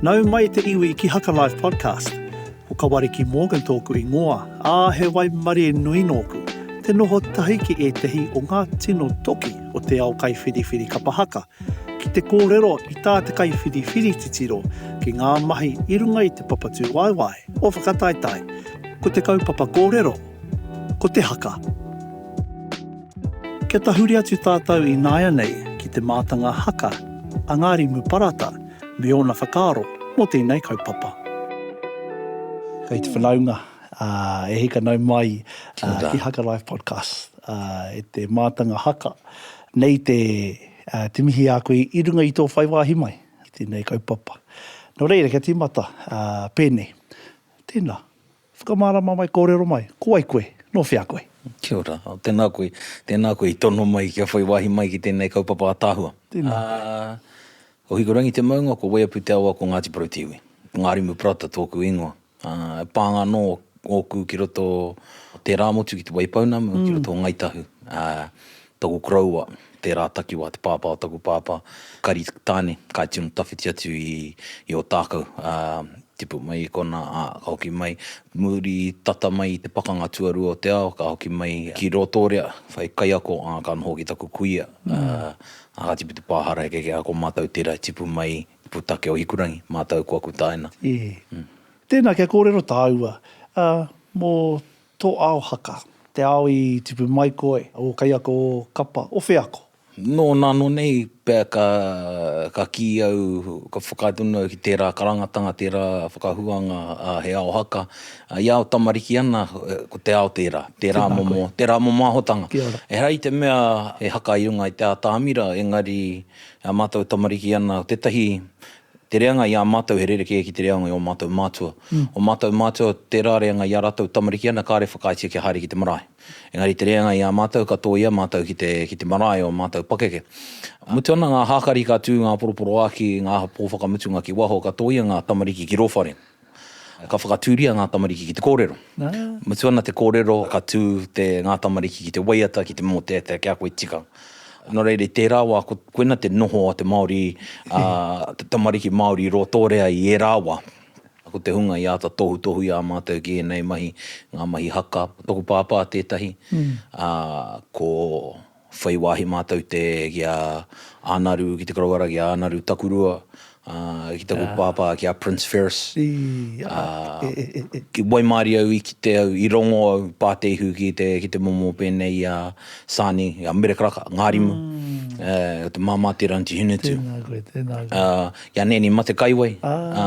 Nau mai te iwi ki Haka Life Podcast. Ko Kawariki Morgan tōku ingoa, ā, he waimarie nui nōku, te noho tahi ki ētahi o ngā tino toki o te ao kaiwhiriwhiri kapa haka, ki te kōrero i tā te kaiwhiriwhiri titiro ki ngā mahi i runga i te papatūwaewae o Whakataetae. Ko te kaupapa kōrero, ko te haka. Kia tahuri atu tātou ināianei ki te mātanga haka a Ngārimu Parata me ōna whakaaro mō tēnei kaupapa. Kei te whanaunga e hika nau mai ki Haka Life Podcast e te mātanga haka. Nei te mihi a koe i runga i tō whai wāhi mai ki tēnei kaupapa. Nō reira, kia tīmata pēnei. Tēnā. Whakamārama mai, kōrero mai, ko wai koe, nō whea koe? Kia ora, tēnā koe, tēnā koe i tono mai kia whai wāhi mai ki tēnei kaupapa ataahua. Tēnā. Ko Hikurangi te maunga, ko Waiapu te awa, ko Ngāti Porou-te-iwi. Ko Ngārimu Parata tōku ingoa. E pānga anō ōku ki roto o Tērāmotu ki Te Waipounamu, ki roto o Ngāi Tahu. Taku koroua, tērā takiwā te pāpā o taku pāpā, Kari Tāne, ka tino tawhiti atu i Ōtākou, ā, tipu mai i konā, ā, ka hoki mai, muri tata mai i te Pakanga Tuarua o te Ao, ka hoki mai ki Rotorua, whai kaiako, ā, ka noho ki taku kuia, ā, ā, ka tipu te pā hara heke kē, ā, ko mātou tērā i tipu mai i te pūtake o Hikurangi, mātou ko aku tāina. Ē, tēnā kia kōrero tāua, ā, mō Tō ao haka, te ao i tipu mai koe, ō kaiako, ō kapa, o wheako? Nō nāno nei pea ka ka kī au, ka whakaae tonu au ki tērā karangatanga, tērā whakahuanga he ao haka, i ao tamariki ana, ko te ao tērā, tērā momo, tērā momo ahotanga. Ehara i te mea he haka i runga i te atamira, engari, e mātou tamariki ana, ko tētahi Te reanga i a matou he rerekē ki te reanga i o matou matua. O matou matua tera reanga i a ratou tamariki ana kare whakaaetia kia haere ki te marae. Engari te reanga i a matou ka toia matou ki te ki te marae o matou pakeke. Mutu ana nga hakari ka tu nga poroporoaki nga po whakamutunga ki waho ka toia nga tamariki ki ro whare. Ka whakatūria ngā tamariki ki te kōrero. Mutu ana te kōrero, ka tū te ngā tamariki ki te waiata, ki te mōteatea, kia koe tika. Nō reira, i tērā wā, ko, koina te noho a te Māori, ā, te tamariki Māori i Rotorua i ērā wā. Ko te hunga i āta tohutohuia ā mātou ki ēnei mahi, ngā mahi haka. Ko tōku pāpā tētahi, ā, ko. whai wāhi mātou te, ki a Ānaru, ki te Karawara, ki a Ānaru Takurua, ā, ki taku pāpā, ki a Prince Ferris. Ā, i waimarie au, i kite au, i rongo au, pā te ihu ki te, ki te momo pēnei i a Sani, i a Mere Karaka, ngā rimu, ā, o te Māmā Te Ranti Hinetū. Tēnā koe, tēnā koe. Ā, i a Nēni Matekaiwai, ā,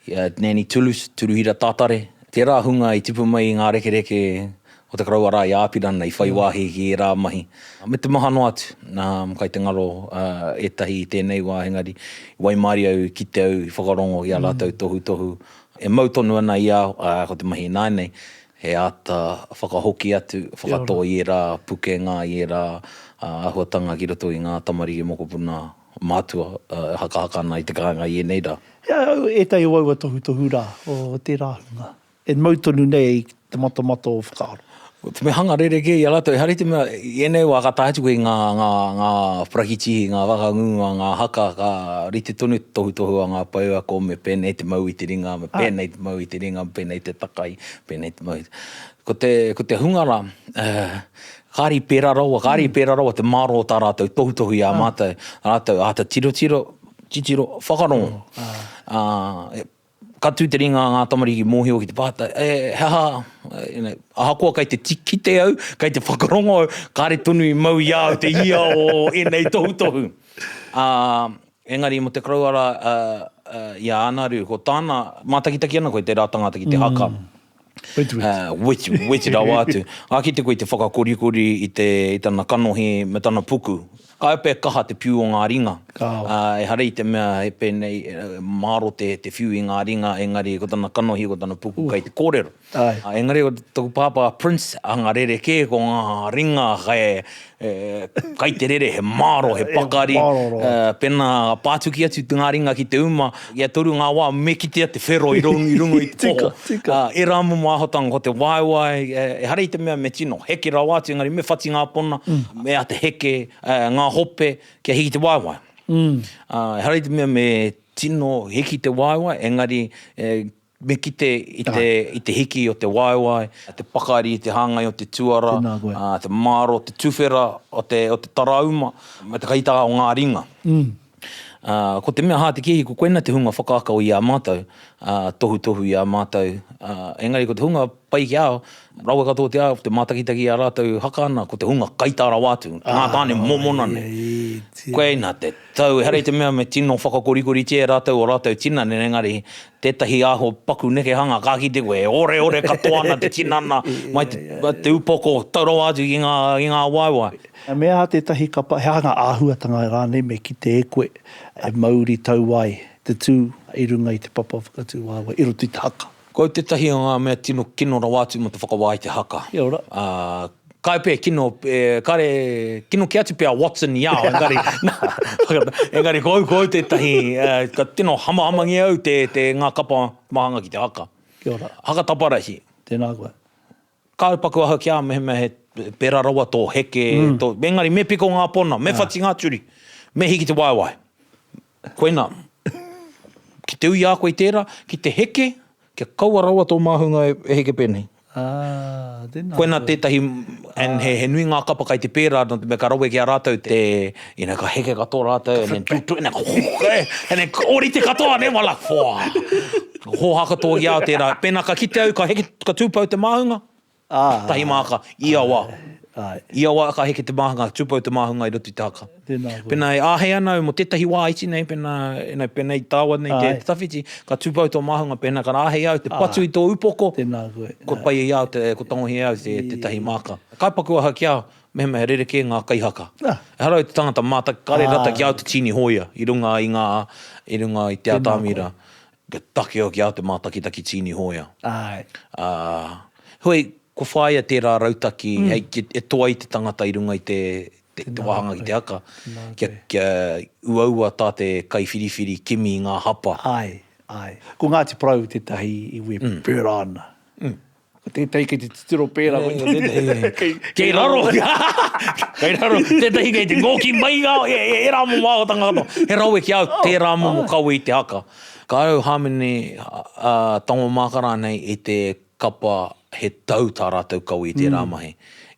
I a Nanny Toulouse, Turuhira Tatare, tērā hunga i tipu mai i ngā rekereke o te Karouara i Apirana i whai wāhi ki ērā mahi, me te maha noa atu. Kai te ngaro ētahi i tēnei wā, engari i waimarie au, i kite au, i whakarongo i ā rātou tohutohu e mau tonu ana i a au, ā, ko te mahi ināianei, he āta whakahoki atu, whakatō i ērā pukenga, i ērā āhuatanga ki roto i ngā tamariki mokopuna Mātua e hakahaka ana i te kāinga i ēnei rā. He au ētahi o aua tohutohu rā o tērā hunga e mau tonu nei i te matamata o whakaaro. Ko te mea hanga rerekē i a rātou, ehara i te mea i ēnei wā ka taea atu koe i ngā, ngā, ngā parakitihi, ngā whakangunga, ngā haka ka rite tonu te tohutohu a ngā pouako me pēnei te mau i te ringa, me pēnei te mau i te ringa, me pēnei te takai, pēnei te mau i te. Ko te, ko te hunga rā, kāre i pērā rawa, kāre i pērā rawa te mārō o tā rātou tohutohu i a mātou, rātou āta tirotiro, titiro, whakarongo. Ā, ka tū te ringa a ngā tamariki mōhio ki te pātai, e, he aha, you know, ahakoa kei te kite au, kei te whakarongo au, kāre tonu i mau i a au te ia o ēnei tohutohu. Ā, engari mō te karawara i a Ānaru, ko tāna, mātakitaki ana koe tērā tangata ki te haka. Wetu, wetu rawa atu. Ka kite koe i te whakakorikori i te, i tana kanohi me tana puku. Ka epea kaha te whiu o ngā ringa. Ka wa. Ehara i te mea he pēnei, māro te, te whiu i ngā ringa, engari ko tana kanohi, ko tana puku kei te kōrero. Ae. Engari ko taku pāpā Prince, anga rerekē ko ngā ringa kei, He kai te rere, he māro, he pakari. Pēnā pātuki atu ngā ringa ki te uma, i a Toru ngā wā me kitea te whero i runga i te poho. Ērā momo āhotanga ko te waewae, ehara i te mea me tino heke rawa atu, engari me whati ngā pona, me āta heke ngā hope kia hiki te waewae. Ehara i te mea me tino hiki te waewae, engari Me kite i te hiki o te waewae, te pakari i te hāngai o te tuara, te māro o te tuwhera o te tarauma, me te kaitaha o ngā ringa. Ko te mea hātekehi, ko koinā te hunga whakaako i a mātou, tohutohu i a mātou, engari ko te hunga pai ki a au, rawe katoa te ao, te mātakitaki i a rātou haka ana, ko te hunga kaitā rawa atu, ko ngā tāne mōmona nei. Koinā te tau, ehara i te mea me tino whakakorikoritia e rātou ō rātou tinana, engari tētahi aho paku nekehanga ka kite koe e oreore katoa ana te tinana mai te upoko tau rawa atu ki ngā, ki ngā waewae. He mea aha tētahi kapa, he aha ngā āhuatanga rānei me kite e koe e mauri tau ai te tū i runga i te papa whakatū waewae i roto i te haka? Ko au tētahi o ngā mea tino kino rawa atu mō te whakawā i te haka. Kia ora. Kai pea, kino, e, kare, kino kē atu pea Watson i ao, engari, nā, engari ko au, ko au tētahi, e, ka tino hamahamangia au te, te, ngā kapa mahanga ki te haka. Kia ora. Haka taparahi. Tēnā koe. Kāu paku aha ki a au mehemea he pērā rawa tō heke, tō, engari me piko ngā pona, me whati ngā turi, me hiki te waewae. Koinā. Ki te ui a koe i tērā, ki te heke, kia kaua rawa tō māhunga e heke pēnei. Aa, tēnā. Koinā tētahi, and he nui ngā kapa kai te pērā, nō te mea ka rawe ki a rātou te, you know, ka heke katoa rātou, and then tuk tuk, and then, and then ōrite katoa, nē, wala, whoa! Hōhā katoa ki a au tērā. Pēnā ka kite au, ka heke, ka tūpou te māhunga, Tahi māka, i ia wā. I ia wā ka heke te māhunga, tūpou te māhunga i roto i te haka. Pēnā e āhei ana au mō tētahi wā iti nei, pēnā, ēnei, pēnei i taua nei te tawhiti, ka tūpou tō māhunga, pēnā ka āhei au te patu i tō upoko, kua pai i a au te, kua tangohia e au tētahi māka. Ka paku aha ki a au, mehemea he rerekē ngā kaihaka. Ehara i te tangata mātaki, kāre rata ki a au te tīni hōia i runga i ngā, i runga i Te Ātamira. Kia take hoki a te mātakitaki Tīni Hōia. Āe. Ā, heoi, kua whāia tērā rautaki hei ki, e toa ai te tangata i runga i te, te, te wāhanga ki te haka, kia, kia uaua tā te kaiwhiriwhiri kimi i ngā hapa. Āe, āe. Ko Ngāti Porou tētahi iwi e pērā ana. Ko tētahi kei te titiro pērā. Nei, ko tētahi. kei, kei raro. kei raro. Tētahi kei te ngōki mai ngā, e, e, e rā momo āhotanga katoa. He rawe ki au, oh, tērā momo oh. kawe i te haka. Ka au hāmene uh, tango mākara nei i te kapa he tau tā rātou kawe i tērā mm. mahi.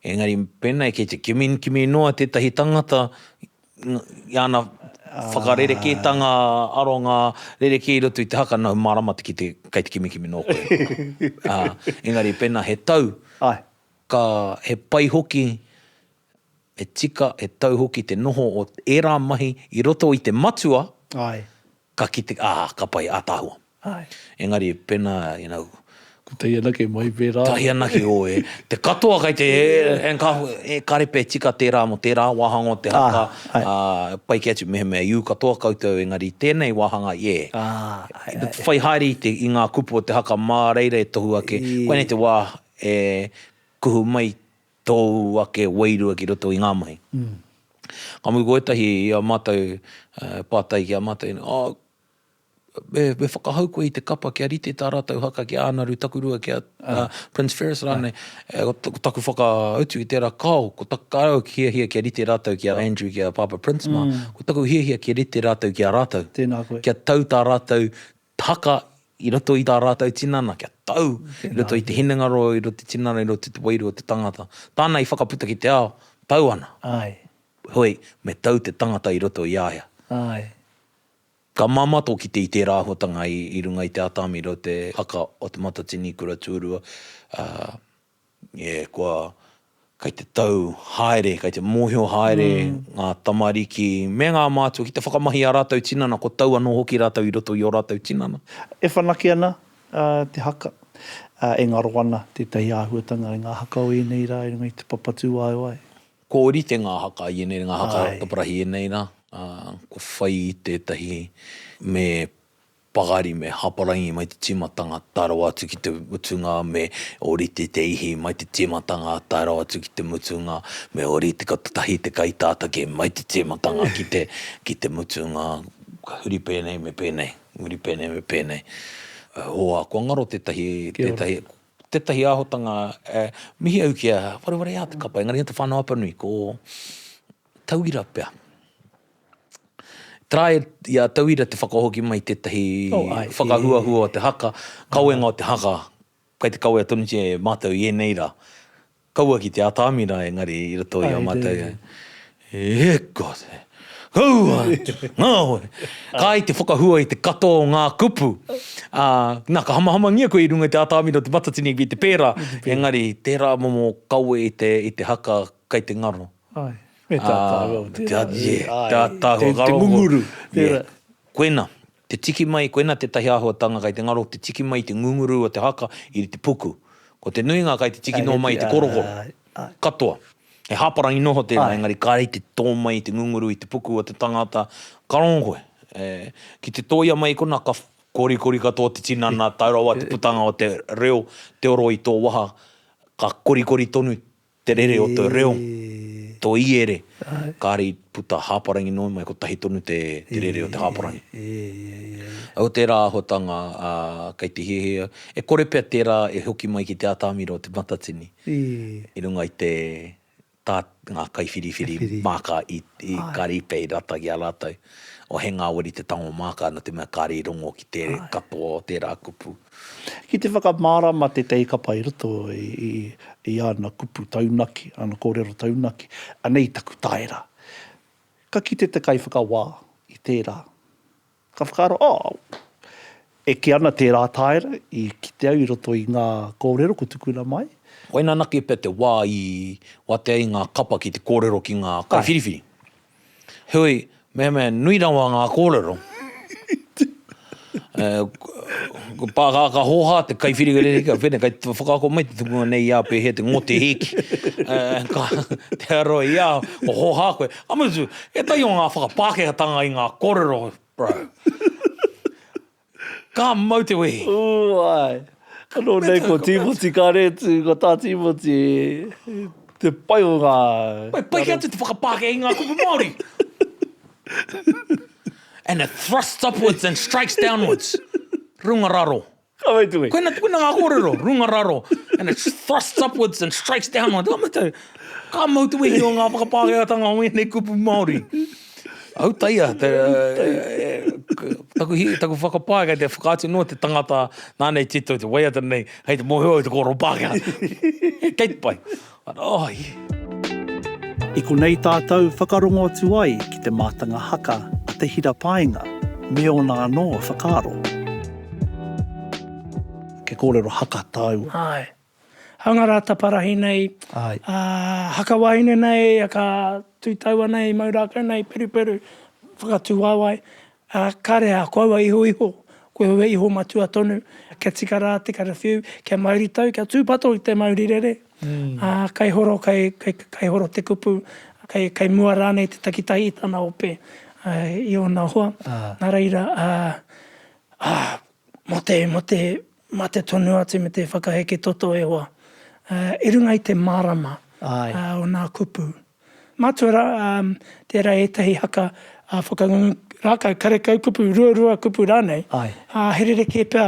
Engari, pēnei kei te kimi, kimi noa tētahi tangata i ana whakarerekētanga aronga rerekē i roto i te haka, nau mārama te kite kei te kimikimi nō koe. Engari pēnā he tau, ka, he pai hoki, he tika, he tau hoki te noho o ērā mahi i roto i te matua, Ka kite, ah, ka pai, ataahua. Ae. Engari, pena, you know. Ko te hianaki mai pera. Ka hianaki, oh, e, te katoa kai te, and ka, e karepe e tika tera mo tera wahanga o te haka, ah, pai ke atu, mehemea i u katoa koutou, engari i tenei wahanga, yeah. Ah, ae, ae. Whai haere i te, i nga kupu o te haka ma reira e tohu ake, koinei te wa e kuhu mai tōu ake wairua ki roto i ngā mahi. Ka mutu ko ētahi i a mātou pātai ki a mātou, oh, me, me whakahau koe i te kapa kia rite tā rātou haka ki a Ānaru Takurua, ki a Prince Ferris rānei, ko taku whakautu i tērā, kāo, ko taku, kāre au hiahia kia rite rātou ki a Andrew, ki a Pāpā Prince mā, ko taku hiahia kia rite rātou ki a rātou, kia tau tā rātou haka i roto i tā rātou tinana, kia tau i roto i te hinengaro, i roto i te tinana, i roto i te wairua o te tangata. Tāna i whakaputa ki te ao, tau ana. Heoi, me tau te tangata i roto i a ia. Ka māmā tō kite i tērā āhuatanga i runga i te Āta Amiro, te haka o Te Matatini, Kura Tūrua, ā, E kua, kei te tau haere, kei te mōhio haere ngā tamariki me ngā mātua ki te whakamahi i ā rātou tinana, ko tau anō hoki rātou i roto i ō rātou tinana. E whanake ana te haka, e ngaro ana tētahi āhuatanga i ngā haka o ēnei rā i runga i te papatūāewae. Kua ōrite ngā haka i ēnei rā, ngā haka taparahi i ēnei rā, kua whai i tētahi me Pakari me Haparangi mai te tīmatanga tae rawa atu ki te mutunga me Orite te Ihi mai te tīmatanga tae rawa atu ki te mutunga me Orite ko te tahi te kai tātake mai te tīmatanga ki te ki te mutunga ka huri pēnei me pēnei huri pēnei me pēnei hoa kua ngaro tētahi tētahi tētahi āhotanga e mihi au ki a Warewareā te kapa engari he te whānau Apanui ko Tauira pea. Tarae i a Tauira te whakahoki mai i tētahi whakahuahua o te haka, kawenga o te haka, kei te kawea tonutia e mātou i ēnei rā. Kaua ki te atāmi rā engari i roto i a mātou. E God! Kaua atu! Ngāwari! Kāi te whakahua i te katoa o ngā kupu. Nā, ka hamahamangia koe i runga i te atāmi nō te matatini ki te pērā, engari tērā momo kawe i te haka kei te ngaro. Ai, me tātāhu au tērā. Tātāhu ngaro. Te ngunguru, tērā. Koina, te tiki mai, koina tētahi āhuatanga kei te ngaro, te tiki mai te ngunguru o te haka i te puku. Ko te nuinga kei te tiki noa mai te korokoro. Katoa. He hāparangi noho tērā, engari kāre i te tō mai te ngunguru i te puku o te tangata, ka rongo koe. Ki te tōia mai kona, ka korikori katoa te tinana, tau rawa te putanga o te reo, te oro i tō waha, ka korikori tonu Te rere o te reo, to iere, kare i puta haparangi noa mai, kotahi tonu te rere o te haparangi. Au tera ahotanga kei te hiahia, e kore pea tera e hoki mai ki te atamira o Te Matatini, i runga i te ta nga kaiwhiriwhiri maka i kare i pei rata ki a ratou. O he ngaweri te tango maka no te mea kare i rongo ki te katoa o tera kupu. Ki te whakamārama te Te Ikapa i roto i ana kupu taunaki, ana kōrero taunaki, anei taku taera. Ka kite te kaiwhakawā i tērā. Ka whakaaro, oh, e kī ana tērā taera i kite au i roto i ngā kōrero ko tukuna mai. Koina anake pea te wā i watea ai ngā kapa ki te kōrero ki ngā kaiwhiriwhiri. Heoi, mehemea nui rawa ngā kōrero, ko Pākākā Hōhā, te kaiwhiriwhiri ki a Whene, kei te whakaako mai te tukunga nei i a Pēhea te ngote hēki. Ka tea roa i a au, ko Hōhā koe. Ka mutu, ētahi o ngā whakapākehātanga i ngā kōrero, bro. Ka mau te wehi. Ū, āe. Anō nei ko Tīmoti Karetu, ko tā Tīmoti te pai o ngā. Whai pai atu te whakapākehā i ngā kupu Māori. And it thrusts upwards and strikes downwards. Runga raro. Ka mutu koe. Koina, koina ngā kōrero, runga raro, and it thrusts upwards and strikes downwards. Ka mutu, ka mau te wehi o ngā whakapākehātanga o ēnei kupu Māori. Autaia, taku whakapae kei te whakaatu noa te tangata nāna i tito i te waiata nei, hei te mōhio au te kōrero Pākehā. Kei te pai. Oh, yeah. I konei tātou whakarongo atu ai ki te mātanga haka a Te Hira Paenga me ōna anō whakaaro. Ke kōrero haka tāua. Āe. Hanga rā taparahi nei, ā, haka wāhine nei, haka tū taua nei, mau rākau nei, peruperu, whakatū waewae, ā, kāre ā koua iho iho, koe au e iho matua tonu, kia tika rā te karawhiu, kia mauri tau, kia tūpato i te mauri rere, ā, kai horo, kai, kai, kai horo te kupu, kai, kai mua rānei te takitahi i tana ope, ā, i ōna hoa, nā reira, ā, ā, mō te, mō te, Mate tonu atu me te whakaheke toto e hoa, i runga i te marama o nā kupu. Matua rā, tērā ētahi haka whakangungu rākau, karekau kupu, ruarua kupu rānei, ā, he rerekē pea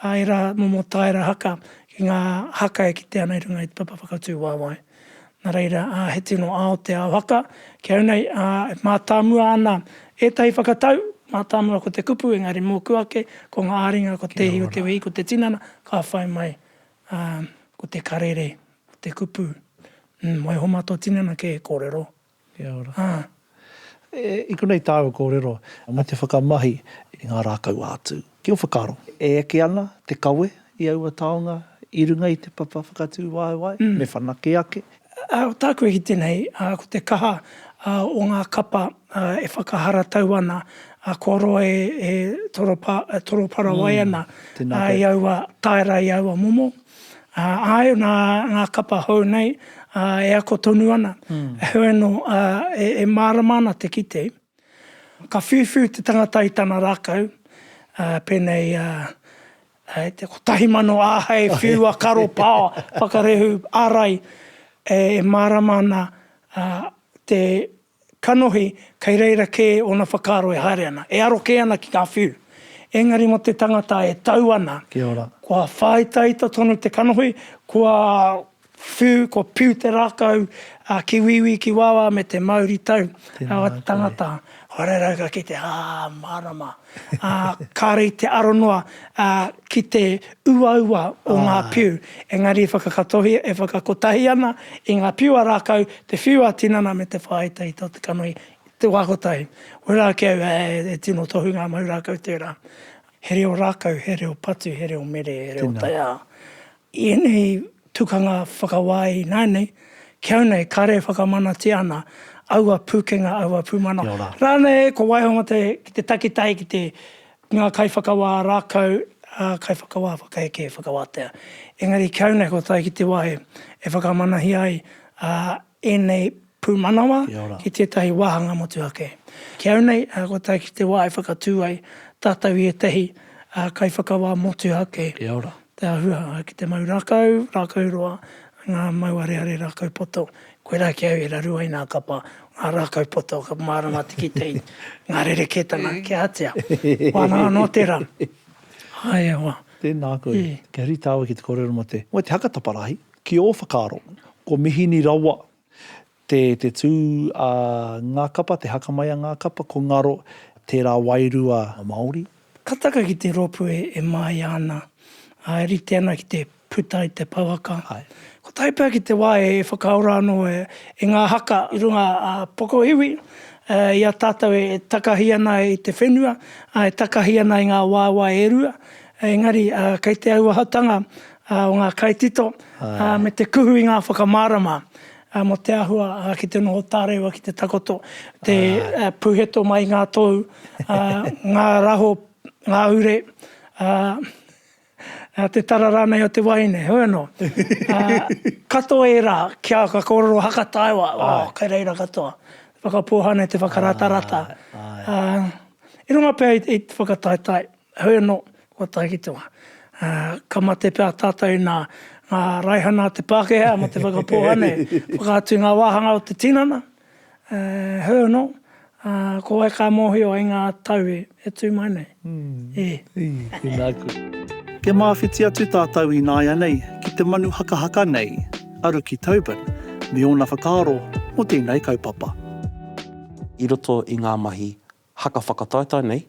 ērā momo taera haka ki ngā haka e kitea ana i runga i te papa whakatū wāwae. Nā reira, he tino ao te ao haka. Ki au nei, e mātāmua ana ētahi whakatau, mātāmua ko te kupu, engari mōku ake, ko ngā āringa, ko te ihi o te wehi, ko te tinana, ka whai mai, ko te karere, ko te kupu. Waiho mā tō tinana kē, kōrero, Kia ora. I konei tāu kōrero. Mō te whakamahi i ngā rākau ā-tū. Ki ō whakaaro, e eke ana te kawe i aua taonga i runga i te papa whakatū waewae, me whanake ake? Tāku e kite nei, ko te kaha o ngā kapa e whakaharatau ana, kua roa e toroparawai ana i aua taera, i aua momo. Āe, nā ngā kapa hou nei e ako tonu ana. Heoi anō, e mārama ana te kite, ka whiuwhiu te tangata i tana rākau, pēnei i te kotahi mano āhei whiua karo pao whakarehu ārai e mārama ana te Kanohi, kei reira kē ōna whakaaro e haere ana, e aro kē ana ki ngā whiu. Engari mō te tangata e tau ana, kua whāitaita tonu te kanohi, kua whiu, kua piu te rākau ki wīwī, ki wāwā me te mauritau o te tangata. Kua rerau ka kite, ā, mārama. ā, kāore i te aro noa ki te uaua o ngā whiu, engari e whakakatohi, e whakakotahi ana i ngā whiu a rākau, te whiu a tinana me te whāita i tō te kanohi, te wā kotahi. Wera ake au e tino tohu ngā mau rākau tērā. He reo rākau, he reo patu, he reo mere, he reo taiao. I ēnei tukanga whakawā ināianei, ki au nei, kāre e whakamanatia ana aua pūkenga, aua pūmanawa. Kia ora. Rānei, ko Waihonga te, ki te takitahi, ki te, ngā kaiwhakawā rākau, ā, kaiwhakawā whakaeke e whakawātea. Engari ki au nei, ko tai ki te wā e, e whakamanahia ai, ā, ēnei pūmanawa ki tētahi wāhanga motu ake. Ki au nei, ko tae ki te wā e whakatū ai tātou i ētahi kaiwhakawā motu ake, te āhua ki te mau rākau, rākau roa, ngā mau areare rākau poto, koirā ki au e raru ai nā kapa, ngā rākau poto, ka mārama te kitehi, ngā rerekētanga kia atia. Wānanga noa tērā. Ae hoa. Tēnā koe. Kia rite awe ki te kōrero mō te, mō te haka taparahi. Ki ō whakaaro, ko mihini rawa te te tū a ngā kapa, te haka mai a ngā kapa, ko ngaro tērā wairua Māori. Ka taka ki te rōpū e māia ana, ā, e rite ana ki te puta i te pouaka. Kotahi pea ki te wā e whakaora anō e ngā haka i runga a Pokohiwi, i a tātou e takahi ana i te whenua, e takahi ana i ngā waewae e rua, engari kei te auahatanga o ngā kaitito me te kuhu i ngā whakamārama mō te āhua ki te noho tārewa, ki te takoto, te puheto mai i ngā tōu, ngā raho, ngā ure, te tara rānei o te wahine, heoi anō. Katoa ērā kia ka kōrero haka taewa, oh, kei reira katoa. Whakapōhane te whakarātarata. I runga pea i te whakataetae. Heoi anō, kua tae ki te wā. Ka mate pea tātou i ngā raihana a te Pākehā mō te whakapōha nei. Whakaatu i ngā wāhanga o te tinana. Heoi anō, ko wai ka mōhio i ngā tau e tū mai nei? E! E! Tēnā koe. Kia māwhiti atu tātou ināianei ki te manu hakahaka nei a Ruki Tobin me ōna whakaaro mō tēnei kaupapa. I roto i ngā mahi haka whakataetae nei,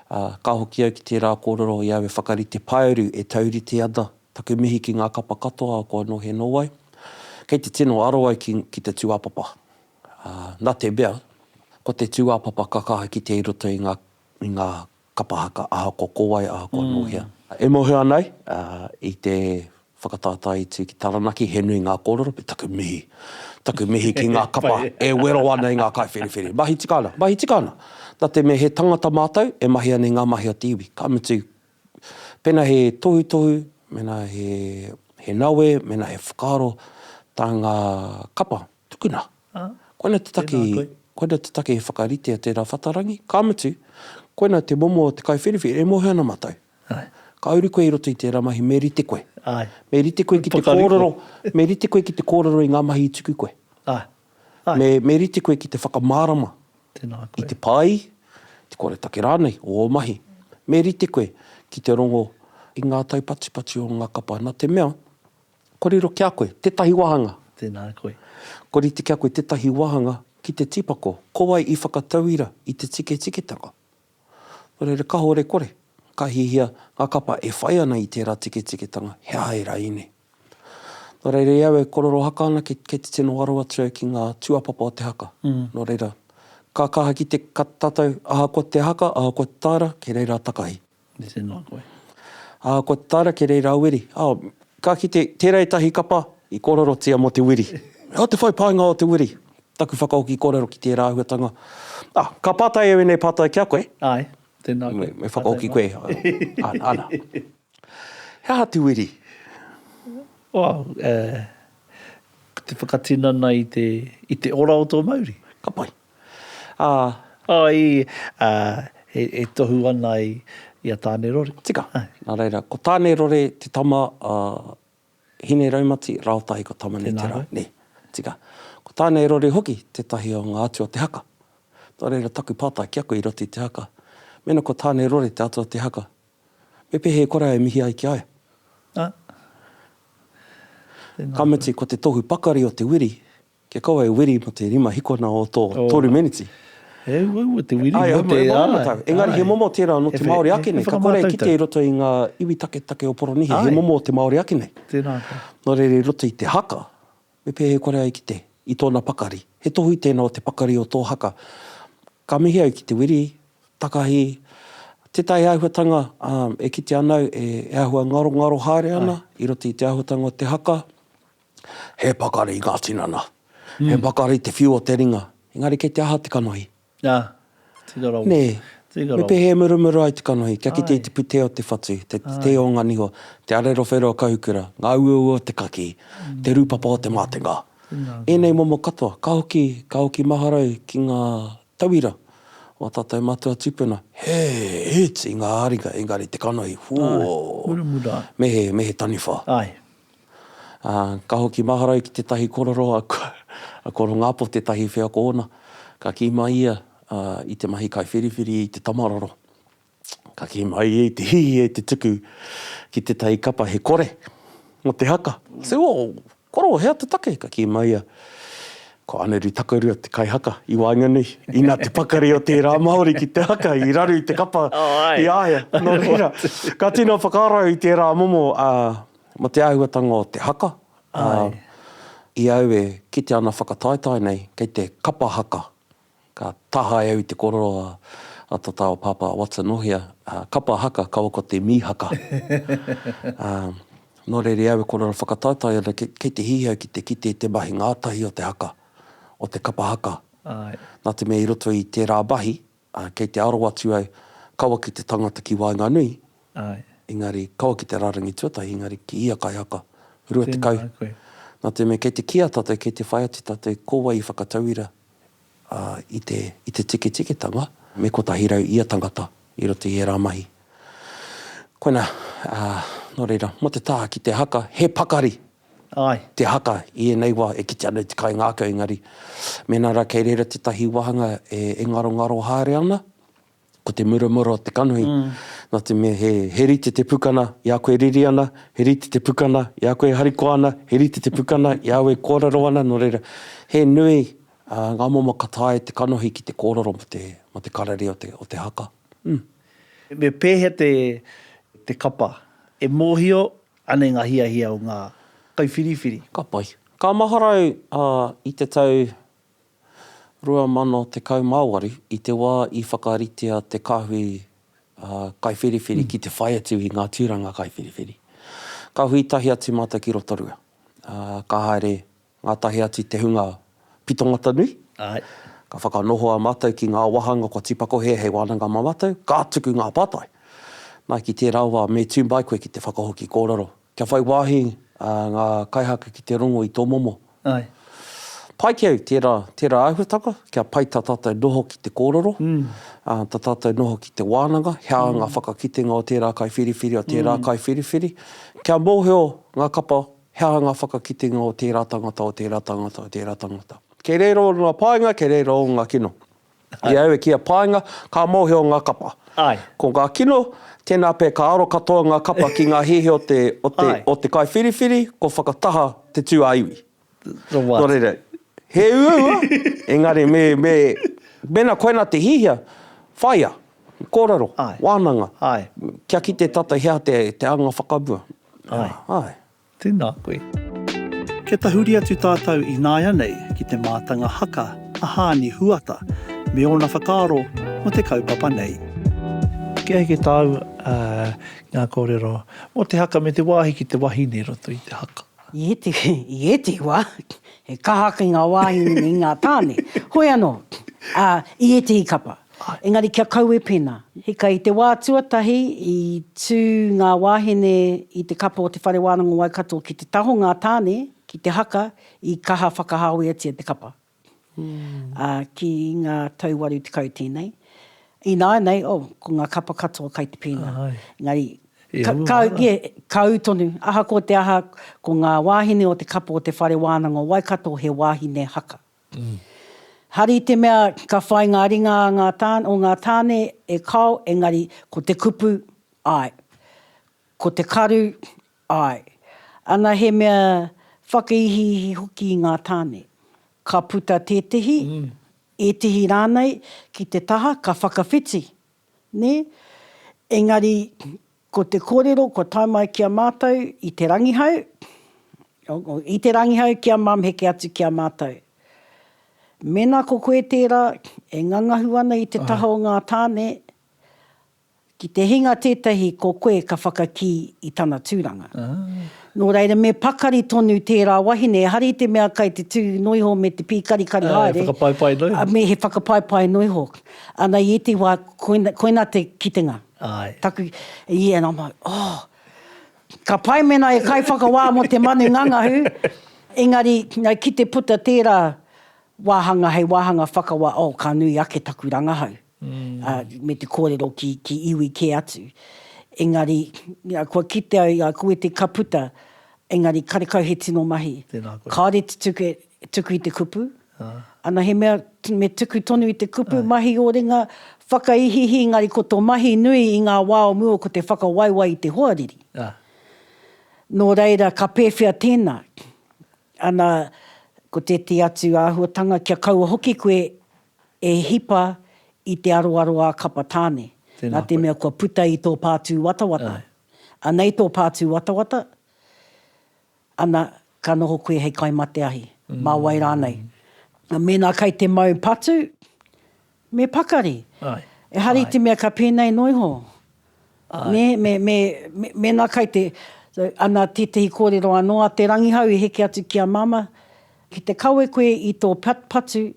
ā, ka hoki au ki tērā kōrero i aua whakarite paearu e taurite ana, taku mihi ki ngā kapa katoa a kua noho e nō ai, kei te tino aro ai ki, ki te tūāpapa. Ā, nā te mea, ko te tūāpapa ka kaha kite i roto i ngā, i ngā Kapa haka, ahakoa ko wai, ahakoa nō hea. E mōhio nei, i te whakataetae i tū ki Taranaki, he nui ngā kōrero, me taku mihi. Taku mihi ki ngā kapa e wero ana i ngā kaiwhiriwhiri. Mahi tika ana, mahi tika ana! Nā te mea he tangata mātou, e mahi ana i ngā mahi o te iwi. Ka mutu, pēnā he tohutohu, mēnā he nawe, mēnā he whakaaro tā ngā kapa, Tukuna. Koina te take, koina te take e whakaritea tērā whatarangi, ka mutu, koina te momo o te kaiwhiriwhiri, e mohe ana matou. Ka uru koe i roto i tērā mahi, me rite koe. Me rite koe ki te kōrero, me rite koe ki te kōrero i ngā mahi i tuku koe. Me, me rite koe ki te whakamārama i te pāī, te koretake rānei o ō mahi. Me rite koe ki te rongo i ngā taupatupatu o ngā kapa, nā te mea, Korero ki a koe, tetahi wahanga. Tēnā koe. Koriti ki a koe tetahi wahanga ki te tīpako, ko wai i whakatauira i te tiketiketanga? Nō reira, kahore kore, ka hihia nga kapa e whai ana i tērā tiketiketanga, he aha ērā ine? Nō reira, i au e korero haka ana kei te tino ngaro atu au ki ngā tūapapa o te haka. Nō reira, ka kaha ki te kata tātou, ahakoa te haka, ahakoa te tāra, kei reira a takahi. Me te noa koe. Ā, kua tataara kē reira a Wiri. Ā, ka kite, tērā ētahi kapa i kōrerotia mō te wiri. Ā, te whai pānga o te wiri. Taku whakahoki kōrero ki tērā āhuatanga. Ā, ka pātai au ēnei pātai ki a koe. Āe, tēnā koe. Me whakahoki koe. Ana. He aha te wiri? Ā, ko te whakatinana i te, i te ora o tō mauri. Ka pai. Ā. Āe, ā, e tohu ana i a Tānerore. Tika, nā reira, ko Tānerore te tama a Hineraumati rāo tahi ko Tamaneterā, nē. Tika, ko Tānerore hoki tētahi o ngā atua o te haka. Nō reira, taku pātai ki a koe i roto i te haka, mēnā ko Tānerore te atua o te haka, me pēhea e kore ai e mihi ai ki a ia? Ā. Ka mutu, ko te tohu pakari o te wiri, Kia kaua e wiri mo te rima hikona o to toru meneti. He uaua te wiri mo te, āe. Engari he momo tērā nō te Māori ake nei, ka kore e kite i roto i ngā iwi taketake o Poronihia, he momo o te Māori ake nei. Tēnā koe. Nō reira i roto i te haka, me pēhea e kore ai kite i tōna pakari. He tohu tēnā o te pakari o tō haka. Ka mihi au ki te wiri, takahi, tētahi āhuatanga e kitea ana au e āhua ngarongaro haere ana i roto i te āhuatanga o te haka. He pakari ngā tinana. He pakari te whiu o te ringa. Engari kei te aha te kanohi? Ā, tira rawa. Nē. Tira rawa. Me pēhea e murumuru ai te kanohi kia kite i te putē o te whatu, te tē o ngā niho, te arerowhero o Kahukura, ngā uaua o te kakī, te rūpapa o te mātenga. Ēnei momo katoa, ka hoki, ka hoki maharau ki ngā tauira o ā tātou matua tūpuna. He iti ngā ringa, engari te kanohi, whoo! Ai, murumuru ai. Me he, me he taniwha. Ai. Ā, ka hoki mahara ia ki tētahi korero a, a Korongāpo, tētahi wheako ōna. Ka kī mai ia, ā, i te mahi kaiwhiriwhiri i te tamaroro, ka kī mai ia i te hihi e te tuku ki tētahi kapa he kore mō te haka. Tū o koro, hea te take? Ka kī mai ia, Ko Aneru Takarua te kaihaka i waenganui, inā te pakari o tērā Māori ki te haka i raru i te kapa i a ia. Nō reira, ka tino whakarau i tērā momo, ā, Ma te āhuatanga o te haka, i au e kite ana whakataetae nei, kei te kapa haka, ka tahae au i te korero a ta ta o Papa Watson ohia, kapa haka kaua ko te mi haka. No reira i au e korero whakataetae ana kei te hihi au ki te kite i te mahi ngatahi o te haka, o te kapa haka. Na te mea i roto i tera mahi, Ā, kei te aro atu au, kaua ki te tangata ki waenganui, engari, kaua ki te rārangi tuatahi, engari, ki ia kaihaka, rua tekau. Tēnā koe. Nā te mea, kei te kīa tātou, kei te whai atu tātou, ko wai i whakatauira, ā, i te, i te tikitikitanga, me kotahi rau ia tangata, i roto i ērā mahi. Koinā, ā, nō reira, mō te taha ki te haka, he pakari! Āe. Te haka, i ēnei wā, e kite ana i te kainga ake, engari, mēnā rā kei reira tētahi wāhanga e, e ngarongaro haere ana, ko te muramura o te kanohi, nā te mea he, he rite te pukana i a koe riri ana, he rite te pukana i a koe harikoa ana, he rite te pukana i a au e kōrero ana, nō reira, he nui, ā, ngā momo ka taea e te kanohi ki te kōrero mō te, mō te kararia o te, o te haka. Hm. Me pēhea te, te kapa? E mōhio, Anei ngā hiahia o ngā kaiwhiriwhiri. Ka pai. Ka maharau a i te tau 2018 i te wā i whakaritea te Kahui Kaiwhiriwhiri ki te whai atu i ngā tūranga kaiwhiriwhiri. Ka hui tahi atu mātou ki Rotorua, ka haere Ngātahi atu te hunga Pitongata-nui. Āe. Ka whakanohoa mātou ki ngā wāhanga kua tīpakohia hei wānanga mā mātou, ka tuku ngā pātai. Nā, ki tērā wā, me tū mai koe ki te whakahoki kōrero. Kia whai wāhi ngā kaihaka ki te rongo i tō momo. Āe. Pai ki au tērā, tērā āhuatanga, kia pai tā tātou noho ki te kōrero, tā tātou noho ki te wānanga, he aha ngā whakakitenga o tērā kaiwhiriwhiri, o tērā kaiwhiriwhiri. Kia mōhio ngā kapa. He aha ngā whakakitenga o tērā tangata, o tērā tangata, o tērā tangata? Kei reira ō ngā paenga, kei reira ō ngā kino. I au e kīa paenga, ka mōhio ngā kapa. Ko ngā kino, tēnā pea ka aro katoa ngā kapa ki ngā hēhē o te, o te, o te kaiwhiriwhiri, kua whakataha te tū a iwi. Nō reira, he uaua, engari me, me, mēnā koinā te hiahia, whāia, kōrero, wānanga, kia kite tātou he aha te, te anga whakamua. Ai. Ai. Tēnā koe. Kia tahuri atu tātou ināianei ki te mātanga haka a Hāni Huata me ōna whakaaro mō te kaupapa nei. Kia heke tāu ngā kōrero mō te haka me te wāhi ki te wahine i roto i te haka. I ētehi wā, he kaha ki ngā wāhine me ngā tāne. Hoi anō, i ētehi kapa. Engari kia kaue pēnā. Hika i te wā tuatahi i tū ngā wāhine i te kapa o Te Whare Wānanga o Waikato ki te taho ngā tāne ki te haka i kaha whakahāweatia te kapa ki ngā tau waru tekau tēnei. Ināianei, oh, ko ngā kapa katoa kai te pēnā. Engari, kāu tonu, ahakoa te aha, ko ngā wāhine o te kapa o Te Whare Wānanga o Waikato he wāhine haka. Hari te mea ka whai ngā ringa o ngā tāne e kao engari ko te kupu, āe. Ko te karu, āe. Ana he mea whakaihiihi hoki i ngā tāne. Ka puta tētehi, ētehi rānei ki te taha ka whakawhiti, nē? Engari Ko te kōrero kua tae mai ki a mātou i Te Rangihau, i Te Rangihau ki a Mum heke atu ki a mātou. Mēnā ko koe tērā e ngangahu ana i te taha o ngā tāne, ki te hinga tētahi ko koe ka whakakī i tana tūranga. Nō reira me pakari tonu tērā wahine, ehara i te mea kai te tū noa iho me te pīkarikari haere. He whakapaipai noa iho. He whakapaipai noa iho. Ana i ētahi wā, koina te kitenga. Āe. Taku, yeah, and I'm like, oh, ka pai mēnā e kaiwhakawā mō te manu ngangahū, engari, nau ki te puta tērā wāhanga hei wāhanga whakawā, oh, ka nui ake taku rangahau, ā, me te kōrero ki, ki iwi kē atu. Engari, yeah, kua kite au, yeah, koe te ka puta, engari karekau he tino mahi. Tēnā koe. Kāore te tuku, E tuku i te kupu. Ana he mea me tuku tonu i te kupu, mahi o ringa, whakaihiihi, engari ko to mahi nui i nga wa o mua ko te whakawaiwai i te hoariri. No reira ka pewhea tena? Ana ko teti atu ahuatanga kia kaua hoki koe e hipa i te aroaro a kapa tane. Na te mea kua puta i to pa tuwatawata. Anei to pa tuwatawata. Ana, ka noho koe hei kai mate ahi, mā wai rānei. Mēnā kai te mau patu, me pakari. Ehara i te mea ka pēnei noa iho. Nē, me, me, me, mēnā kai te, so, ana tētehi kōrero anō a Te Rangihau i heke atu ki a Māmā, ki te kawe koe i tō patu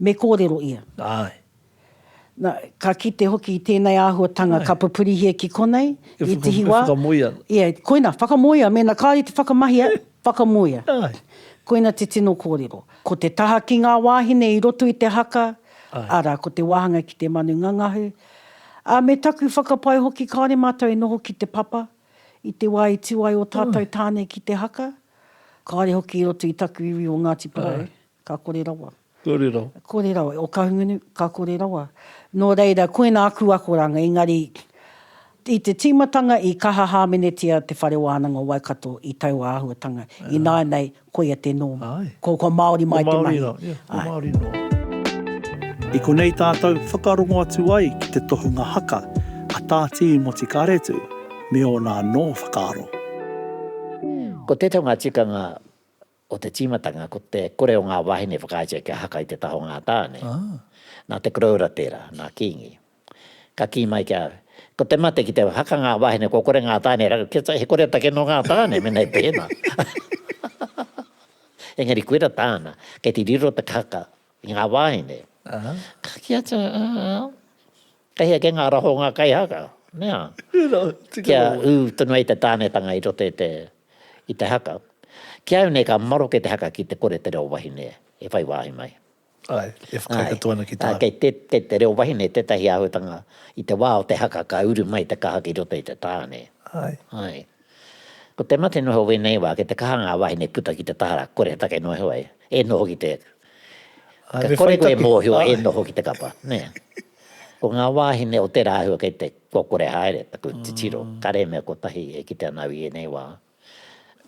me kōrero ia. Āe. Na, ka kite hoki i tēnei āhuatanga. Āe. Ka pupurihia ki konei, E whaka, e whakamoe ana. i te hiwa. Ia, koina, whakamoea, mēnā kāore i te whakamahia, whakamoea. Āe. Koina te tino kōrero. Ko te taha ki ngā wāhine i roto i te haka, Āe. Arā, ko te wāhanga ki te manu ngangahu. Ā, me taku whakapae hoki kāore mātou e noho ki te papa, i te wā i tū ai ō tātou tāne ki te haka, kāore hoki i roto i taku iwi o Ngāti Porou. Āe. Ka kore rawa. Kore rawa. Kore rawa. O Kahungunu, ka kore rawa. Nō reira, koina aku akoranga, engari i te tīmatanga i kaha hāmenetia Te Whare Wānanga o Waikato i taua āhuatanga, ināianei koia te nōma. Ko, ko Māori mai te mahi. Ko Māori rā, ko Māori noa. I konei tātou whakarongo atu ai ki te tohunga haka a Tā Tīmoti Karetu me ōna anō whakaaro. Ko tētahi o ngā tikanga O te tīmatanga, ko te kore o ngā wāhine e whakaaetia kia haka i te taha o ngā tāne. Nā te koroura tērā, nā Kīngi. Ka kī mai ki a au, Ko te mate ki te haka ngā wāhine kua kore ngā tāne e raru, kia he koretake nō ngā tāne mēnā i pēnā. Engari koira tāna, kei te riro te haka i ngā wāhine. Ka kī atu au, Ā, Kei hea kei ngā raho o ngā kaihaka, nea, kia ū tonu ai te tānetanga i roto i te, i te haka. Ki a au nei ka maroke te haka ki te kore te reo wahine e whai wāhi mai. Āe, e whakaekatu ana ki tāu. Kei te, kei te reo wahine tētahi āhuatanga i te wā o te haka ka uru mai te kaha ki roto i te tāne. Āe. Āe. Ko te mate noho wēnei wā, kei te kaha ngā wāhine puta ki te tahara, kore he take noa iho ai, e noho ki te, ka kore koe e mōhio e noho ki te kapa, nē. Ko ngā wāhine o tērā āhua kei te, kua kore haere taku titiro, kare mea kotahi e kite ana au i ēnei wā.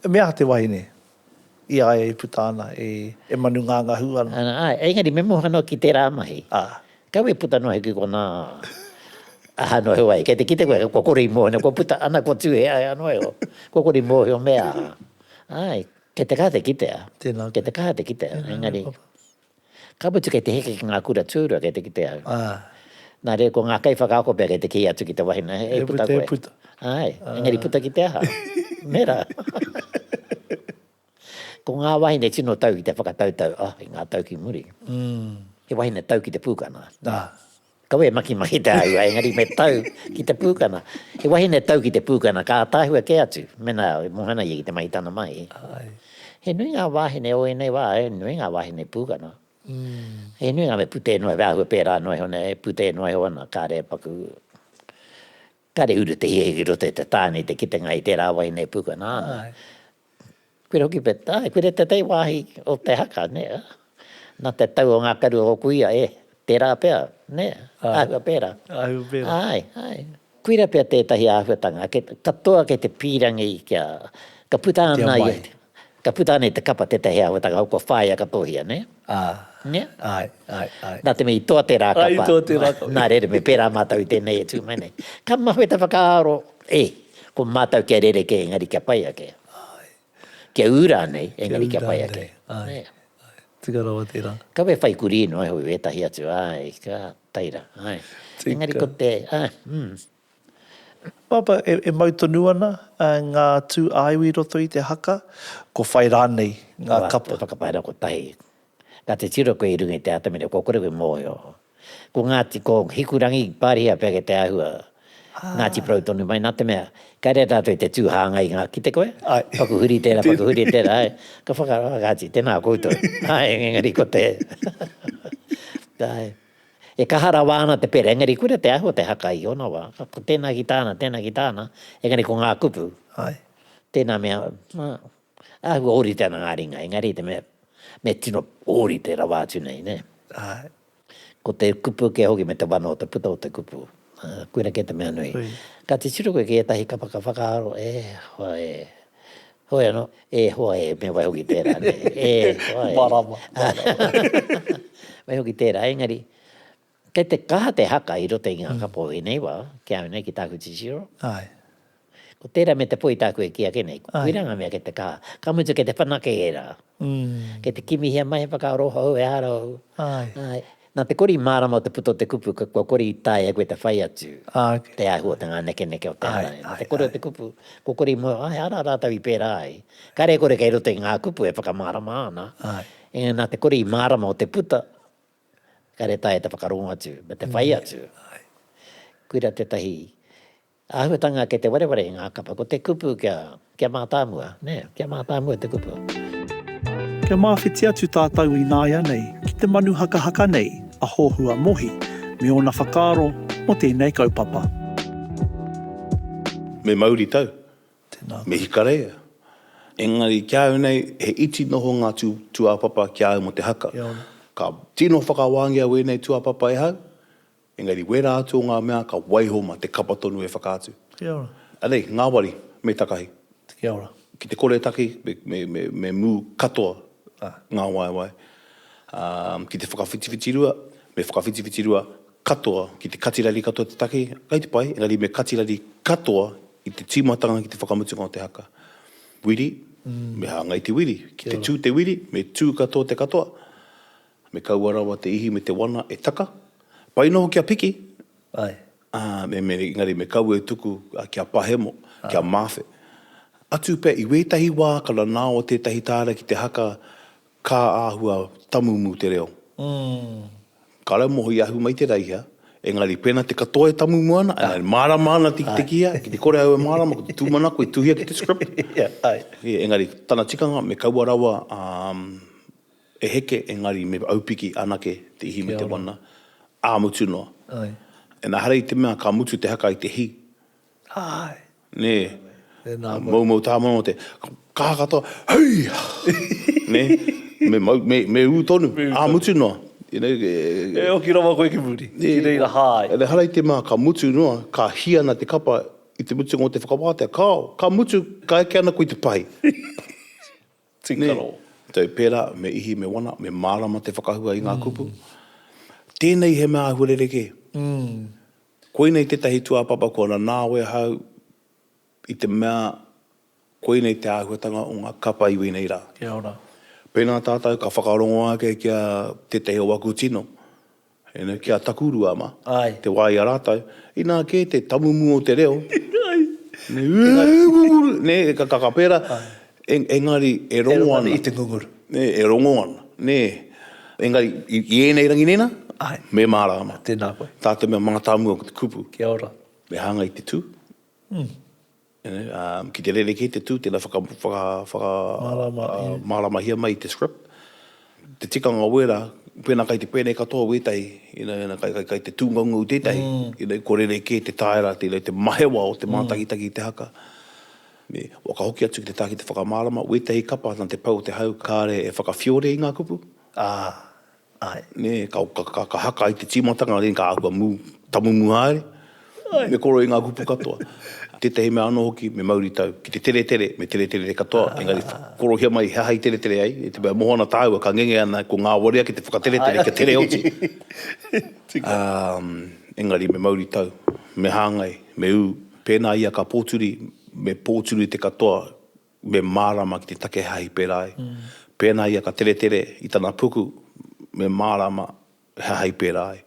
He mea aha te wahine? I a ia i puta ana, e manu ngangahu ana. Āe, engari me moha noa ki tērā mahi. Āe. Kau e puta noa hoki konā. Aha noa heo ai, kei te kite koe, kua kore i mōhio, kua puta ana, kua tūhea hea noa iho, kua kore i mōhio me aha. Āe, kei te kaha te kitea. Tēnā koe. Kei te kaha te kitea, engari. Tēnā koe papa. Ka mutu kei te heke ki ngā kura tūrua kei te kite au. Nā reira ko ngā kaiwhakaako pea kei te kī atu ki te wahine hei puta koe. E puta, e puta. Āe, engari puta ki te aha? Me rā. Ko ngā wahine tino tau ki te whakatautau, oh, i ngā tau ki muri. He wahine tau ki te pūkana. Nā. Kaua e makimakī te āhua, engari me tau ki te pūkana. He wahine e tau ki te pūkana, ka ātaahua kē atu, mēnā e moe ana ia ki te mahi tana mahi. He nui ngā wāhine o ēnei wā, he nui ngā wāhine pūkana. He nui ngā mea putē noa, he āhua pērā noa iho nei, putē noa iho ana, kāre e paku. Kāre uru te hia ki roto i te tāne i te kitenga i tērā wahine e pūkana ana. Koira hoki pea, āe, koira tētahi wāhi o te haka, nē, ā, nā te tau o ngā karu o ōku ia, e, tērā pea, nē, āhua pērā. Āhua pērā. Āe, āe. Koira pea tētahi āhuatanga katoa kei te pīrangi kia, ka puta ana ia. Kia mai. Ka puta ana i te kapa tētahi āhuatanga hou kua whāia ka tōhia, nē? Ā, āe, āe, āe. Nā te mea i toa tērā kapa. Āe, i toa tērā kapa. Nā reira, me pērā mātou i tēnei e tū mai nei. Ka mahue te whakaaro, e, ko mātou kia rerekē engari kia pai ake. Āe. Kia ū rānei engari kia pai ake. Kia ū rānei, āe, āe. Tika rawa tērā. Kawe whai kurī noa iho i wētahi atu, āe, ka taira, āe. Tika. Engari ko te, āe, mm. Papa, e mau tonu ana ngā tū āiwi i roto i te haka, ko whai rānei ngā kapa? Ko te whakapainga kotahi, ka te tiro koe i runga i te atamira kua kore koe mōhio. Ko Ngāti, ko Hikurangi, Pārihia pea kei te āhua, Ngāti Porou tonu mai, nā te mea, ka reira rātou i te tū hāngai i ngā kite koe, paku huri tērā, paku huri tērā, āe, ka whakaaro, āe, kāti, tēnā koutou, āe, engari ko te, āe. E kaha rawa ana te pera, engari koira te āhua te haka i ōna wā. Ko tēnā ki tāna, tēnā ki tāna, engari ko ngā kupu, tēnā mea, āhua ōrite ana ngā ringa, engari te mea, me tino ōrite rawa atu nei, nē. Ko te kupu kē hoki me te wano o te puta o te kupu, koira kē te mea nui. Ka titiro koe ki ētahi kapa ka whakaaro, e hoa e, Heoi ano, e hoa e, me wai hoki tera, ne, e hoa e. Marama, marama. Wai hoki tera, engari, kei te kaha te haka i roto i nga kapo i nei wa, ki au nei, ki taku titiro. Aye. Ko tera me te po i taku e ki ake nei, koira nga mea kei te kaha. Ka mutu kei te whanake era. Kei te kimihia mai he whakaaro hou, ehara hou. Aye. Nā te kori mārama o te puta o te kupu, kua kori i taea e koe te whai atu te āhua o te ngānekeneke o te ara. Nā te kore o te kupu, kua kori i mua, ā, he ara rātou i pērā ai. Kāre e kore kei roto i ngā kupu e whakamārama ana, engari nā te kori mārama o te puta, kāre e taea te whakarongo atu me te whai atu. Koira tētahi. Āhuatanga kei te wareware i ngā kapa, ko te kupu kia, kia mātāmua, nē, kia mātāmua te kupu. Kia mawhiti atu tātou ināianei ki te manu hakahaka nei a Hohua Mohi me ōna whakaaro mō tēnei kaupapa. Me mauritau, me hikareia. Engari ki a au nei, he iti noho ngā tūāpapa ki a au mō te haka. Ka tino whakawāngia wēnei tūāpapa e hau, Engari wērā atu o ngā mea ka waiho mā te kapa tonu e whakaatu. Kia ora. Anei, ngāwari, me takahi. Kia ora. Ki te kore e taki, me mū katoa ngā waewae. Ki te whakawhitiwhitirua, me whakawhitiwhitirua katoa. Ki te katirari katoa te taki, kei te pai, engari me katirari katoa i te tīmatanga ki te whakamutunga o te haka. Wiri, me hāngai te wiri. Ki te tū te wiri, me tū katoa te katoa. Me kaua rawa te ihi me te wana e taka. Pai noho kia piki, Ae. ā, me, me, engari me kaua e tuku kia pahemo, kia mawhe. Atu pea, i wētahi wā ka nanao tētahi tāra ki te haka kā āhua tamumu te reo. Ka raumoho i ahu mai te Raiha, engari pēnā te katoa e tamumu ana, ā, e mārama ana te kihea, ki te kore au e mārama, ko te tūmanako i tuhia ki te script, engari tana tikanga me kaua rawa, ā, E heke engari me aupiki anake te ihi me te wana, ā mutu noa. Enehara i te mea ka mutu te haka i te hi. Nē. Moumou tāmano te kaha katoa, Hei! Nē? Me ū tonu, ā mutu noa. E hoki rawa koe ki muri, ki reira hā ai. Enehara i te mea ka mutu noa, ka hi ana te kapa i te mutunga o te whakawātea, kāo, ka mutu, ka eke ana koe i te pahi. Tīkaro. Tau pērā, me ihi, me wana, me mārama te whakahua i ngā kupu. Tēnei he mea āhua rerekē. Koinei tētahi tūāpapa kua nanao e ahau i te mea koinei te āhuatanga o ngā kapa i wēnei rā. Pēnā tātou ka whakarongo ake ki a tētahi o aku tino, Ēnei ki a Takurua ama, te wā i a rātou, inā kē te tamumu o te reo, nē, ūūūū, nē, e kakaka pērā, engari e rongo ana. E rongo ana i te ngunguru. Nē, e rongo ana, nē. Engari, i ēnei rangi nēnā, me mārāma. Tēnā koe. Tā te mea mātāmua ko te kupu. Kia ora. Me hāngai te tū. Ū. Ki te rerekē te tū, tēnā whakamāramahia mai te script, te tikanga wēra, pēnā kai te pēnei katoa wētahi, kai te tūngaungau tētahi, kua rerekē te taera, te mahewa o te mātakitaki i te haka. Ua ka hoki atu ki te taha ki te whakamārama, wētahi kapa nā te pau o te hau, kāre e whakawhiore i ngā kupu, ā, Āe. Nē, ka haka i te tīmatanga, then ka āhua mū, tamumuha haere. Āe. Me koro i ngā kupu katoa. Tētahi mea anō hoki, me mauritau ki te teretere, me teretere katoa, engari korohia mai he aha i teretere ai, i te mea e moho ana tāua ka ngenge ana, kua ngāwari ake te whakateretere kia tere oti. Tika. Engari me mauritau, me hāngai, me ū, pēnā ia ka pōturi, me pōturi te katoa, me mārāma ki te take hāhi pērā ai. Pēnā ia ka teretere i tana puku, me mārāma he hāhi pērā ai.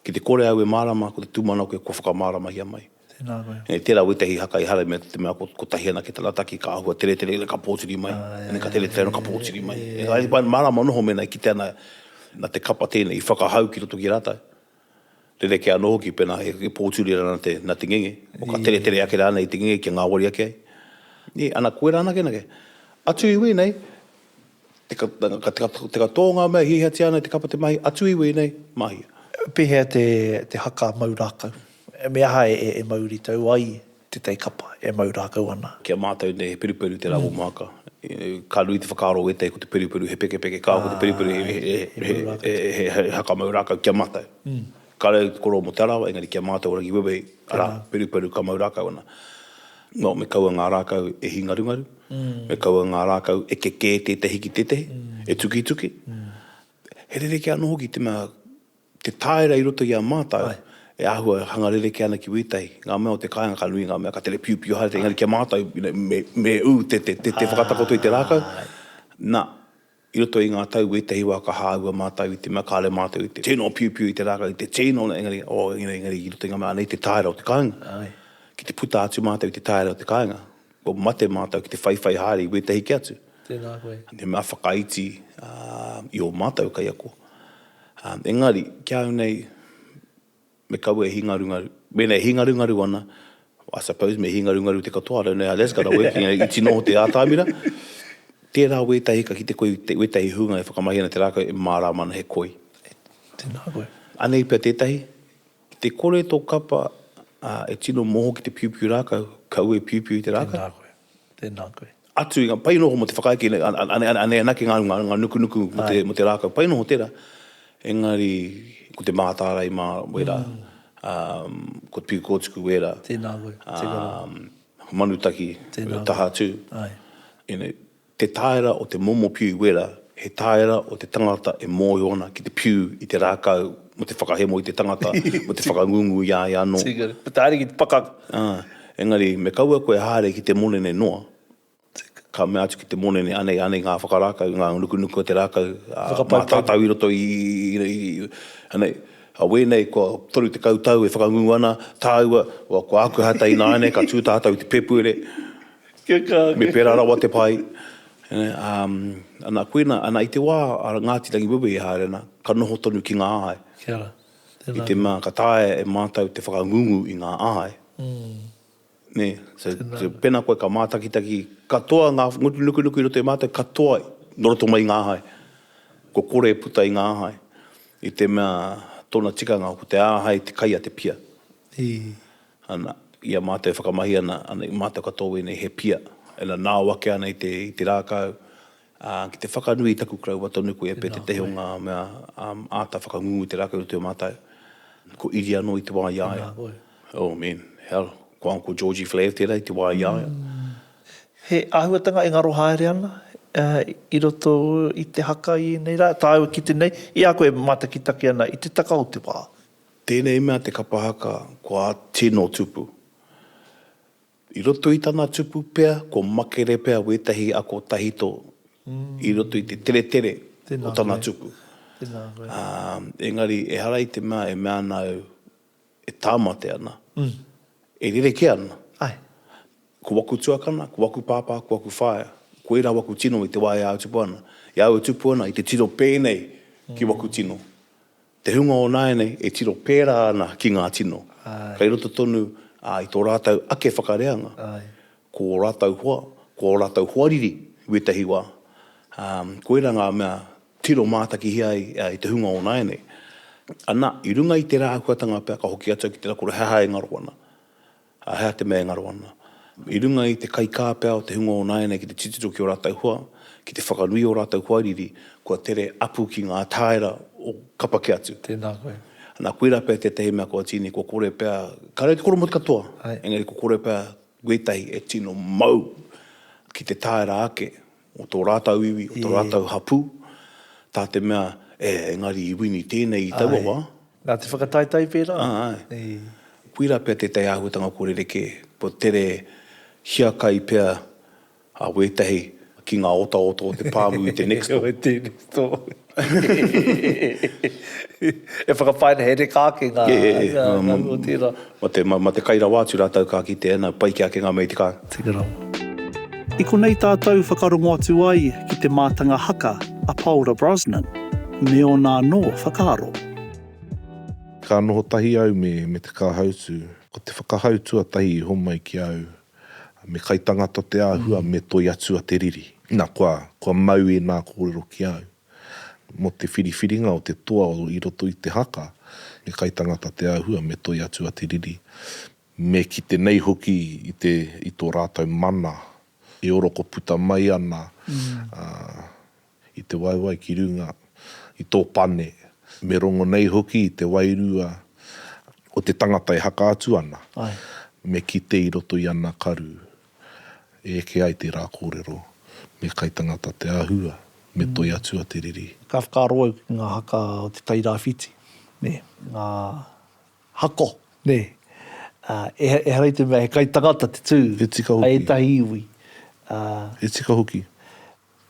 Ki te kore au e mārāma, ko te tūmanako kua whakamāramahia mai. Tēnā koe. Engari tērā wētehi haka i haramia te mea kotahi anake tana taki, ka āhua teretere ina ka pōturi mai, ina ka teretere ina ka pōturi mai. Engari mārāma noho mēnā e kitea ana, nā te kapa tēnei i whakahau ki roto ki a rātou. Rerekē anō hoki pēnā he pōturi rānei te na te ngenge, o ka teretere ake rānei te ngenge kia ngāwari ake ai. Nē, ana koe rānei anake. Atu iwi nei, teka, teka, teka tō ngā mea hiahiatia ana i te kapa te mahi, atu iwi nei, mahia. Pēhea te, te haka mau rākau? Me aha e, e mauritau ai? Te tei kapa e mau rākau ana. Ki a mātou nei he peruperu te rāwō māka. Ka nui te whakaaro o ētahi ko te peruperu he pekepeke kāo ko te peruperu he hakamau rākau ki a mātou. Ka reo te korō mō Te Arawa engari ki a mātou o Rangi Wewehi arā, peruperu ka mau rākau ana. Nō, me kaua ngā rākau e hingarungaru, me kaua ngā rākau e kekē tētahi ki tētahi, e tukituki. He rerekē anō hoki te mea te tāera i roto i a mātou e āhua hanga rerekē ana ki wētahi, ngā mea o te kāinga ka nui ngā mea ka tere piupiu haere, engari ki a mātou, me ū te whakatakoto i te rākau, na, i roto i ngā tau wētahi wā ka hāua mātou i te mea kāore mātou i te tino piupiu i te rākau, i te tino, engari, oh, engari i roto i ngā mea, anei te tāera o te kāinga, ki te puta atu mātou i te tāera o te kāinga, Kua mate mātou ki te whaiwhai haere i wētahi ki atu. Tēnā koe. He mea whakaiti i ō mātou kaiako. Engari, ki a au nei, me kaua e hingarungaru. Mēnā e hingarungaru ana, I suppose me hingarungaru te katoa, I don't know how that's gonna work, i tino noho te ātamira. Tērā wētahi ka kite koe i wētahi hunga e whakamahi ana te rākau e mārāma ana he koi. Tēnā koe. Anei pea tētahi, Ki te kore tō kapa e tino moho ki te piupiu rākau, kaua e piupiu i te rākau. Tēnā koe. Tēnā koe. Atu i ngā, pai noho mō te whakaeke nei, anei anake ngā runga, ngā nukunuku mō te rākau. Pai noho tērā. Engari, ko te mātārae mā wērā, ko te piu kōtuku wērā. Tēnā koe. Tēnā koe. Manutaki, taha atu. Āe. You know. Te tāera o te momo piu wera, he tāera o te tangata e mōhio ana ki te piu i te rākau mō te whakahemo i te tangata, mō te whakangungu i a ia anō. Taere ki te pakaka. Ā, engari, me kaua koe e haere ki te monene noa, ka mea atu ki te monene, anei, anei ngā whakarākau, ngā nukunuku o te rākau, ā, mātātau i roto i, anei, ā, wēnei kua 30 tau e whakangungu ana, tāua, kua aku hata ināianei ka tū tātau i te pēpuere, Me pērā rawa te pai. Ana, koina, ana i te wā a Ngāti Rangiwewehi e haere ana, ka noho tonu ki ngā āe. I te mea ka taea e mātou te whakangungu i ngā āe. Nē? So, pēnā koe ka mātakitaki katoa ngā ngutu nukunuku i roto i a mātou, katoa nō roto mai i ngā āe. Kua kore e puta i ngā āe. I te mea tōna tikanga ko te āhei te kai a te pia. ana, i a mātou e whakamahi ana, ana i mātou katoa wēnei he pia, ina nao ake ana i te, i te rākau, ā, ki te whakanui i taku karaua tonu koe e Pete, tēnā koe, tētahi o ngā mea, ā, āta whakangungu i te rākau i roto i a mātou, ko Iri anō i te wā i a ia. Tēnā koe. Oh man, hell, ko Uncle Georgie Flair tērā i te wā i a ia. He āhuatanga e ngaro haere ana, ā, i roto i te haka i ēnei rā, tāua ki te nei, i a koe e mātakitaki ana i te taka o te wā, Tēnei mea te kapa haka ko a Tino Tupu. I roto i tana tupu pea ko makere pea wētahi ako tahito i roto i te teretere o tana tupu. Engari ehara i te mea e mea ana au e tāmate ana, e rerekē ana. Ko waku tuakana, ko waku pāpā, ko waku whaea, ko ērā waku tino i te wā e āu tupu ana. I a au e tupu ana i te tino pēnei ki waku tino. Te hunga o nāianei e tiro pērā ana ki ngā tino, kei roto tonu i tō rātou ake whakareanga, ko ō rātou hoa, ko ō rātou hoariri i wētahi wā, ā, koirā ngā mea tiro mātakihia ai i te hunga o nāianei. Anā, i runga i tērā āhuatanga pea ka hoki atu au ki te rakura he aha e ngaro ana. Ā, he aha te mea e ngaro ana? I runga i te kaikāpea o te hunga o nāianei ki te titiro ki ō rātou hoa, ki te whakanui i ō rātou hoariri, kua tere apu ki ngā tāera o kapa kē atu. Tēnā koe. Nā, koirā pea tētahi mea kua tīni, kua kore pea, kāore i te koromoti katoa, engari kua kore pea wētahi e tino mau ki te tāera ake o tō rātau iwi, o tō rātau hapū, tā te mea, e, engari i wini tēnei i taua wā. Āe, nā te whakataetae pērā. Āe. Koirā pea tētahi āhuatanga kua rerekē, kua tere hiakai pea a wētahi ki ngā otaota o te pāmu i te next door. He aha tēnei tō. E whakapae ana, he reka ake ngā hau o tērā. Ma te kai rawa atu rātou ka kitea, nā, pai kē ake ngā mea i te kāinga. Teka rawa. I konei tātou whakarongo atu ai ki te mātanga haka a Paora Brosnan, me ōna anō whakaaro. Ka noho tahi au me te kāhautū. Ko te whakahau tuatahi i homai ki au, Me kai tangata te āhua me toi atu a te riri. Na, kua, kua mau ēnā kōrero ki au. Mo te whiriwhiringa o te toa o i roto i te haka, me kai tangata te āhua me toi atu a te riri. Me kite nei hoki i te, i tō rātou mana e oroko puta mai ana, ā, i te waewae ki runga i tō pane, me rongo nei hoki i te wairua o te tangata e haka atu ana, me kite i roto i ana karu, e eke ai tērā kōrero, me kai tangata te āhua, me toi atu a te riri. Ka whakaaro au ki ngā haka o te Tairāwhiti, nē, ngā hako, nē, ehara i te mea he kai tangata te tū, hei ētahi iwi. He tika hoki.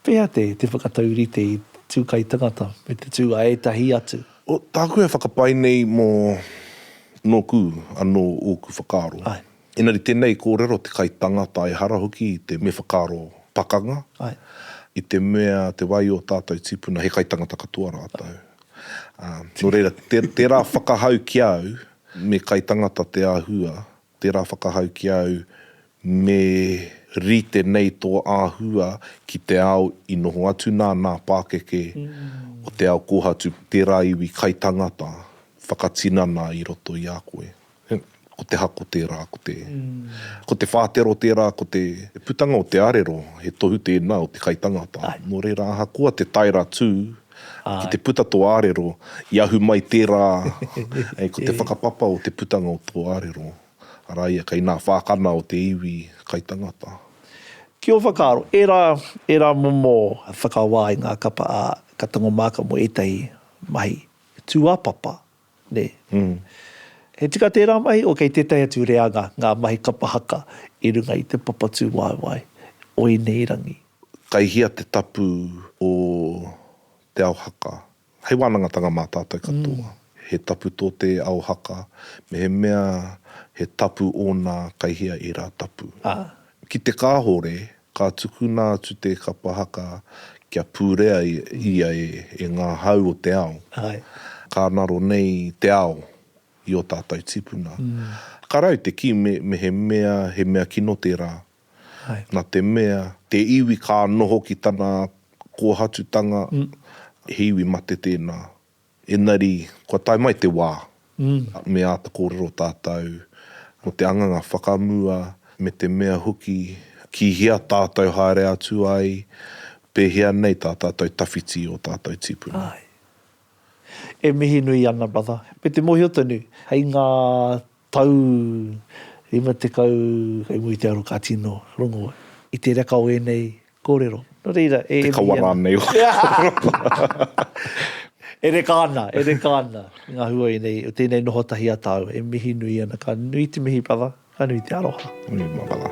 Pea te te whakataurite i tu kai tangata me te tu a etahi atu. O, taku e whakapae nei mo noku ano oku whakaaro. Ae. Enari tenei korero te kai tangata ehara hoki i te me whakaaro pakanga. Ae. I te mea te wai o tatou tipuna he kai tangata katoa ratou. A, no reira, te, tera whakahau ki au, me kai tangata te ahua. Tērā whakahau ki a au me rite nei tō āhua ki te ao i noho atu nā nā pākeke o te ao kōhatu tērā iwi kaitangata whakatinana i roto i a koe. Ko te hako tērā, ko te ko te whātero tērā, ko te putanga o te arero, he tohu tēnā o te kaitangata. Nō reira ahakoa te tae ratū Ki te puta tō ārero, i ahu mai tērā, ē, ko te whakapapa o te putanga o tō ārero, arā ia, kei nā whākana o te iwi kai tangata. Ki ō whakaaro, ērā, ērā momo whakawā i ngā kapa, ā, ka tango māka mō ētahi mahi tūāpapa Nē. He tika tērā mahi, o kei tētahi atu reanga ngā mahi kapa haka i runga i te papatūwaewae o ēnei rangi. Kai hea te tapu o te ao haka? Hei wānangatanga mā tātou katoa. He tapu tō te ao haka, mehemea he tapu ōna kai hea ērā tapu. Ki te kāhore, Ka tukuna atu te kapa haka kia purea ia e ngā hau o te ao. Ka ngaro nei te ao i ō tātou tipuna. Ka rae te kī mehemea he mea kino tērā, na te mea, te iwi ka noho ki tana kōhatutanga, he iwi mate tēnā. Engari, kua tae mai te wā, me āta kōrero tātou mō te anganga whakamua, me te mea hoki ki hea tātou haere atu ai, pēhea nei tā tātou tawhiti ō tātou tīpuna. Āe. E mihi nui ana, brother. Me te mōhio tonu, hei ngā Tau 50 kei mua i te aro ka tino rongo i te reka o ēnei kōrero. Nō reira, e emi ana. Te kawa rānei o Europa. E reka ana, e reka ana ngā hua ēnei o tēnei noho tahi a tāua. E mihi nui ana. Ka nui te mihi, brother. Ka nui te aroha. Nui, marama.